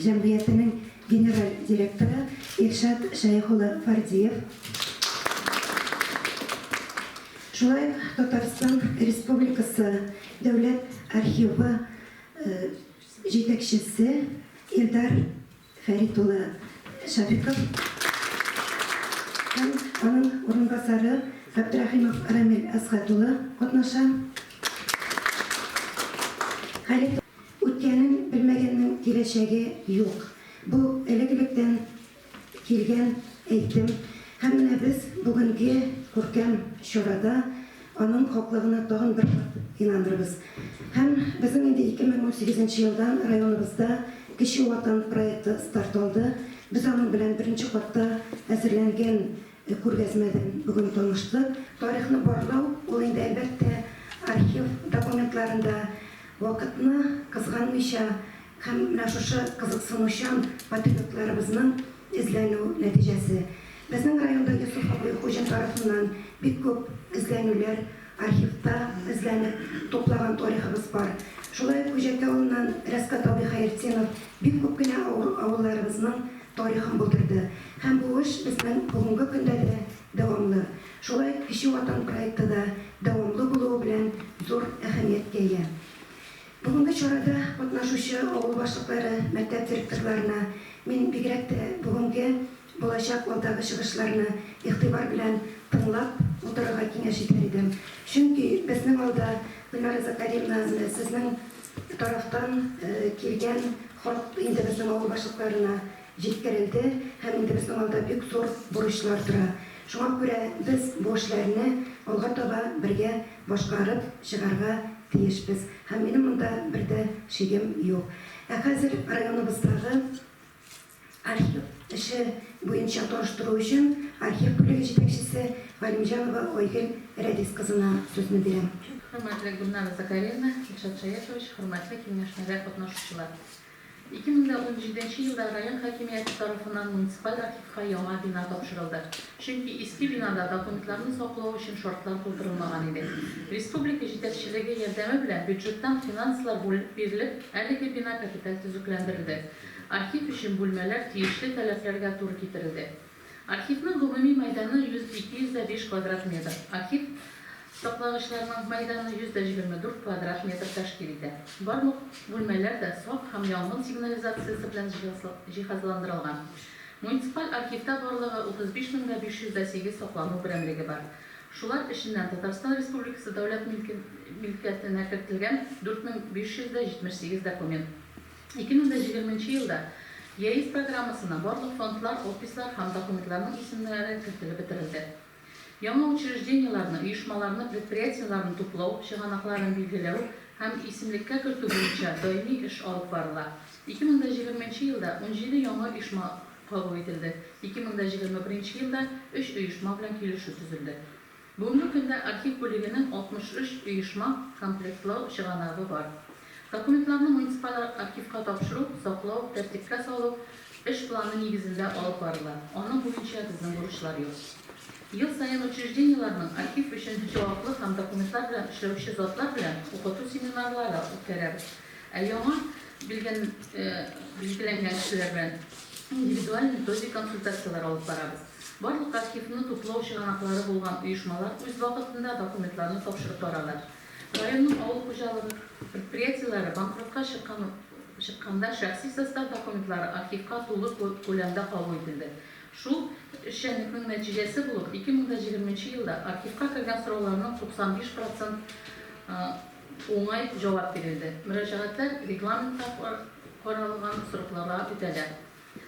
җәмгыятенең генераль директоры Илшат Шәех улы Фардиев, шулай ук Татарстан Республикасы Дәүләт архивы җитәкчесе Илдар Фәрит улы Шәфиков һәм аның урынбасары Габдрәхимов Рамил Әсгать улы катнаша. Хәлит Үткәнен белмәгәннең киләчәге юк. Бу элек-электән килгән әйтем һәм менә без бүгенге күркәм чарада аның хаклыгына тагын бер кат инанырбыз. Һәм безнең инде 2018 нче елдан районыбызда Кече Ватан проекты старт алды. Без аның белән беренче катта әзерләнгән күргәзмәдән бүген таныштык. Тарихны барлау, ул инде, әлбәттә, архив документларында Вакытны кызганмыйча һәм менә шушы кызыксынучан патриотларыбызның эзләнү нәтиҗәсе. Безнең районда Йосыф абый Хуҗин тарафыннан бик күп эзләнүләр, архивта эзләнеп туплаган тарихыбыз бар. Шулай ук Күҗәки авылыннан Рәсгат абый Хәертдинов бик күп кенә авылларыбызның тарихын булдырды. Һәм бу эш безнең бүгенге көндә дә дәвамлы. Шулай ук Кече Ватан проекты да дәвамлы булуы белән зур әһәмияткә ия. Бүгенге чарада катнашучы авыл башлыклары, мәктәп директорларына мин бигрәк тә бүгенге, булачак, алдагы чыгышларны игътибар белән тыңлап утырырга киңәш итәр идем. Чөнки безнең алда, Гөлнара Закариевна, менә сезнең тарафтан килгән хат инде безнең авыл башлыкларына. җиткерелде һәм инде безнең алда бик зур бурычлар тора. Шуңа күрә без бу эшләрне алга таба бергә башкарып чыгарга тиешбез һәм минем монда бер дә шигем юк. Ә хәзер районыбыздагы архив эше буенча таныштыру өчен архив бүлеге җитәкчесе Галимҗанова Айгөл Рәдис кызына сүзне бирәм. Хөрмәтле Гөлнара Закарьевна, Илшат Шаяшевич, хөрмәтле киңәшмәдә катнашучылар! Ике мең дә унҗиденче елда район хакимияте тарафыннан муниципаль архивка яңа бина тапшырылды, чөнки иске бинада документларны саклау өчен шартлар тудырылмаган иде. Республика җитәкчелеге ярдәме белән бюджеттан финанслар бүленеп бирелеп, әлеге бина капиталь төзекләндерелде. Архив өчен бүлмәләр тиешле таләпләргә туры китерелде. Архивның гомуми мәйданы 100-205 квадрат метр, архив саклагычларының мәйданы 124 квадрат метр тәшкил итә. Барлык бүлмәләр дә сак һәм янгын сигнализациясе белән җиһазландырылган. Муниципаль архивта барлыгы 35 мең дә 500 дә 8 саклану берәмлеге бар. Шулар эченнән Татарстан Республикасы дәүләт милкәтенә кертелгән 4578 документ, 2020 нче елда ЕАЭС программасына барлык фондлар, офислар һәм документларның исемнәре кертелеп бетерелде. Яңа учреждениеләрне, оешмаларны, предприятиеләрне туплау, чыганакларын билгеләү һәм исемлеккә кертү буенча даими эш алып барыла. 2020 нче елда 17 яңа оешма кабул ителде, 2021 нче елда өч оешма белән килешү төзелде. Бүгенге көндә архив бүлегенең 63 оешма комплектлау чыганагы бар. Документларны муниципаль архивка тапшыру, саклау, тәртипкә салу эш планы нигезендә алып барыла, аның буенча безнең бурычлар юк. Ел саен учреждениеләрнең архив өчен җаваплы һәм документлар белән эшләүче затлар белән укыту семинарлары үткәрәбез, ә яңа билгеләнгән кешеләр белән индивидуаль методик консультацияләр алып барабыз. Барлык архивны туплау чыганаклары булган оешмалар үз вакытында документларны тапшырып баралар. Районның авыл хуҗалыгы предприятиеләре банкротка чыкканда шәхси состав документлары архивка тулы күләмдә кабул ителде. Шул эшчәнлекнең нәтиҗәсе булып, 2020 нче елда архивка кергән сорауларның 95 процент уңай җавап бирелде. Мөрәҗәгатьләр регламентта каралган срокларга үтәлә.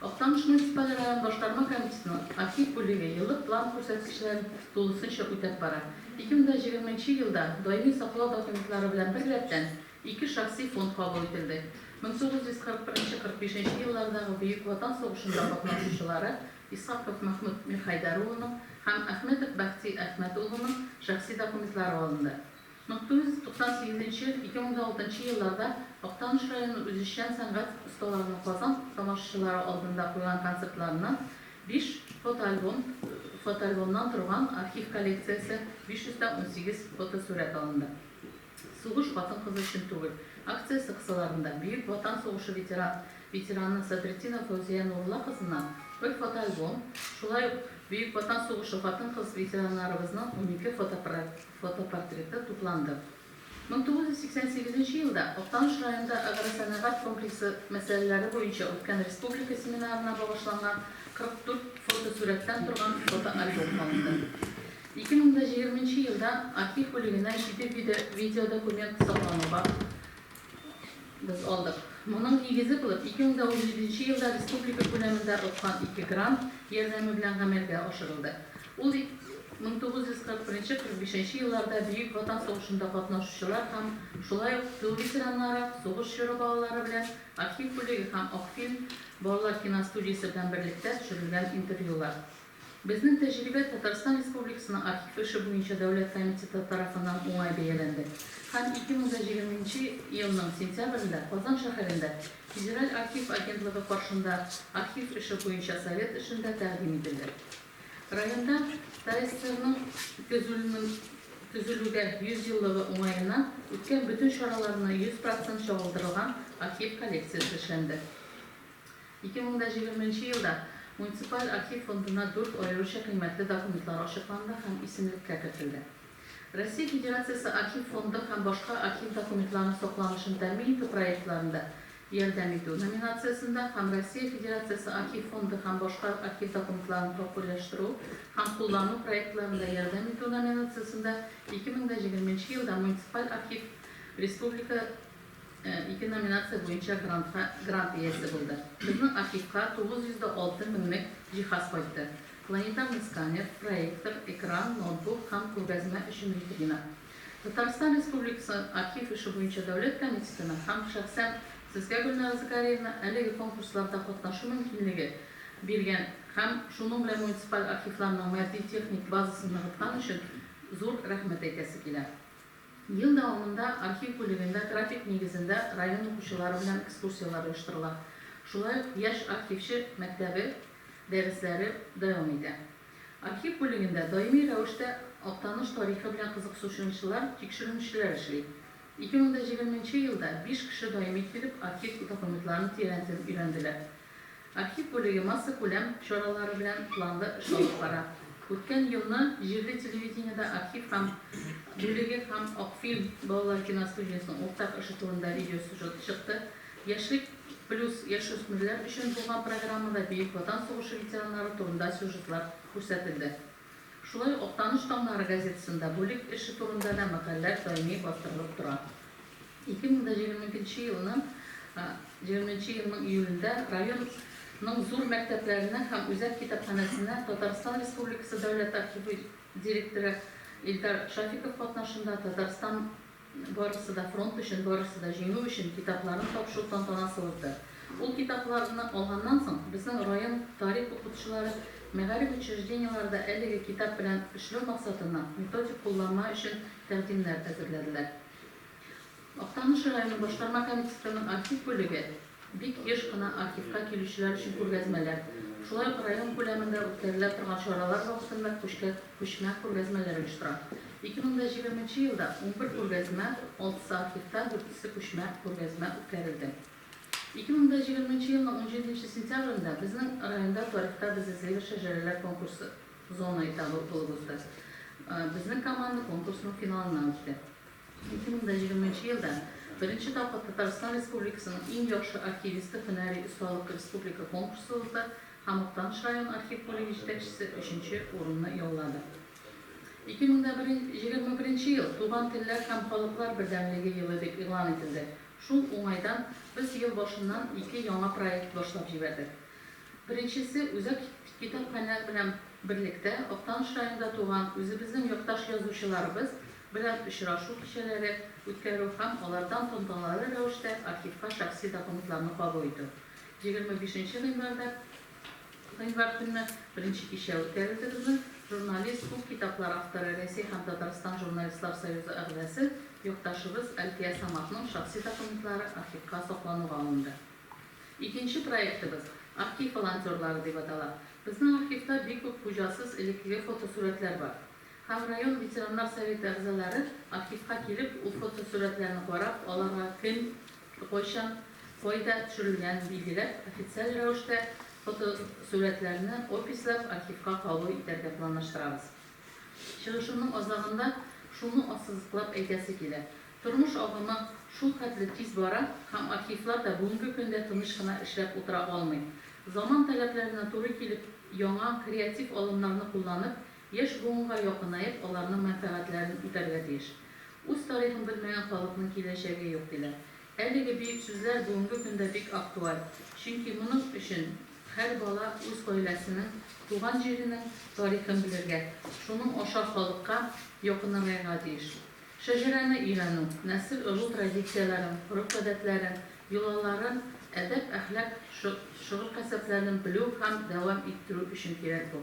Актаныш муниципаль район Башкарма комитетының актив бүлеге еллык план күрсәткечләрен тулысынча үтәп бара. 2020 нче елда даими саклау документлары белән беррәттән, ике шәхси фонд кабул ителде. 1941 45 нче еллардагы Бөек Ватан сугышында катнашучылары Исхаков Мәхмүт Мирхәйдәр улының һәм Әхмәтов Бәхти Әхмәт улының шәхси документлары алынды. Мең тугыз йөз туксан сигезенче, ике мең дә алтынчы елларда Актаныш районы үзешчән сәнгать осталарының Казан тамашачылары алдында куйган концертларына биш фотоальбом фотоальбомнан торган архив коллекциясе, 518 фотосурәт алынды. Сугыш хатын-кыз өчен түгел! акциясе кысаларында Бөек Ватан сугышы ветера ветераны Садретдинова Фәүзия Нурулла кызыннан бер фотоальбом, шулай ук Бөек Ватан сугышы хатын-кыз ветераннарыбызның унике фотопроект Фотопортреты тупланды. 1988 нче елда Актаныш районында агросәнәгать комплексы мәсьәләләре буенча үткән республика семинарына багышланган 44 фотосурәттән торган фотоальбом алынды. 2020 нче елда архив бүлегеннән җиде видеодокумент саклануга Без алдык. Моның нигезе булып 2017 елда республика күләмендә откан ике грант ярдәме белән гамәлгә ашырылды. Ул 1941-45 елларда Бөек Ватан сугышында катнашучылар һәм шулай ук тыл ветераннары, сугыш чоры балалары белән Архив бүлеге һәм Акфильм балалар киностудиясе белән берлектә төшерелгән интервьюлар. Безнең тәҗрибә Татарстан Республикасының Архив эше буенча дәүләт комитеты тарафыннан уңай бәяләнде һәм 2020 нче елның сентябрендә Казан шәһәрендә Федераль архив агентлыгы каршында Архив эше буенча совет эшендә тәкъдим ителде. Районда ТАСРның төзелүнең төзелүгә 100 еллыгы уңаеннан үткән бөтен чараларны 100 процент чагылдырылган архив коллекциясе эшләнде. Ике мең дә җиглерме нче елда муниципаль архив фондына дүрт аеруча кыйммәтле документлар ачыкланды һәм исемлеккә кертелде. Россия Федерациясе Архив фонды һәм башка архив документларының сакланышын тәэмин итү проектларында ярдәм итү номинациясендә һәм Россия Федерациясе Архив фонды һәм башка архив документларын популяштру һәм куллану проектларында ярдәм итү номинациясендә ике мең дә җиглерме нче елда муниципаль архив республика Ике номинация буенча грантка грант иясе булды. Безнең архивка 906 меңлек җиһаз кайтты. Планетарный сканер, проектор, экран, ноутбук һәм күргәзмә өчен витрина. Татарстан Республикасы архив эше буенча дәүләт комитетына һәм шәхсән Сезгә, Гөлнара Закарьевна, әлеге конкурсларда катнашу мөмкинлеге биргән һәм шуның белән муниципаль архивларның матди-техник базасын ныгыткан өчен зур рәхмәт әйтәсе килә. Ел дәвамында архив бүлегендә график нигезендә район укучылары белән экскурсияләр оештырыла. Шулай ук Яшь архивчы мәктәбе дәресләре дәвам итә. Архив бүлегендә даими рәвештә Актаныш тарихы белән кызыксушынчылар, тикшеренүчеләр эшли. 2020 нче елда биш кеше даими килеп архив документларын тирәнтен өйрәнделәр. Архив бүлеге массакүләм чаралары белән планлы эш алып бара. Үткән елны җирле телевидениедә архив һәм бүлеге һәм Акфильм балалар киностудиясенең уртак эше турында видеосюжет чыкты. Яшьлек плюс яшүсмерләр өчен булган программада Бөек Ватан сугышы ветераннары турында сюжетлар күрсәтелде. Шулай ук Актаныш таңнары газетасында бүлек эше турында да мәкальләр даими бастырылып тора. 2022 елның 20 нче елның июлендә район ның зур мәктәпләренә һәм үзәк китапханәсенә Татарстан Республикасы Дәүләт архивы директоры Илдар Шафиков катнашында Татарстан Барысы да фронт өчен, барысы да җиңү өчен китапларын тапшыру тантанасы узды. Ул китапларны алганнан соң, безнең район тарих укытучылары мәгариф учреждениеләре дә әлеге китап белән эшләү максатына методик кулланма өчен тәкъдимнәр әзерләделәр. Актаныш районы башкарма комитетының архив бүлеге, Бик еш кына архивка килүчеләр өчен күргәзмәләр, шулай ук район күләмендә үткәрелә торган чаралар вакытында күчкә күчмә күргәзмәләр оештыра. 2020 нче елда унбер күргәзмә, алтысы архивта, дүртесе күчмә күргәзмә үткәрелде. 2020 нче елның унҗиденче сентябрендә безнең районда Тарихта без эзлибез шәҗәрәләр конкурсы зона этабы булып узды. Безнең команда конкурсның финалына үтте. 2020 нче елда беренче тапкыр Татарстан Республикасының иң яхшы архивисты һөнәри осталык республика конкурсы узды һәм Актаныш район архив бүлеге җитәкчесе өченче урынны яулады. 2021 нче ел Туган телләр һәм халыклар бердәмлеге елы дип игълан ителде. Шул уңайдан без ел башыннан ике яңа проект башлап җибәрдек. Беренчесе, үзәк китапханә белән берлектә Актаныш районында туган үзебезнең якташ язучыларыбыз белән очрашу кичәләре үткәрү һәм алардан тантаналы рәвештә архивка шәхси документларны кабул итү. Егерме бишенче гыйнварда гыйнвар көнне беренче кичә үткәрелде безнең журналист, күп китаплар авторы, Рәсәй һәм Татарстан журналистлар союзы әгъзасы, якташыбыз Әлфия Саматның шәхси документлары архивка саклануга алынды. Икенче проектыбыз Архив волонтерлары дип атала. Безнең архивта бик күп хуҗасыз элеккеге фотосурәтләр бар. Һәм район ветераннар советы әгъзалары архивка килеп, ул фотосурәтләрне карап, аларга кем, кайчан, кайда төшерелгәнен билгеләп, официаль рәвештә фотосурәтләрне описләп архивка кабул итәргә планлаштырабыз. Чыгышымның азагында шуны ассызыклап әйтәсе килә, тормыш агымы шул хәтле тиз бара һәм архивлар да бүгенге көндә тыныч кына эшләп утыра алмый. Заман таләпләренә туры килеп, яңа, креатив алымнарны кулланып, Яшь буынга якынаеп, аларның мәнфәгатьләрен үтәргә тиеш. Үз тарихын белмәгән халыкның киләчәге юк, диләр. Әлеге бөек сүзләр бүгенге көндә бик актуаль, чөнки моның өчен һәр бала үз гаиләсенең, туган җиренең тарихын белергә, шуның аша халыкка якыныргайга тиеш. Шәҗәрәне өйрәнү, нәсел ыру традицияләрен, гореф-гадәтләрен, йолаларын, әдәп-әхлак шөгыль-кәсепләрен белү һәм дәвам иттерү өчен кирәк бу.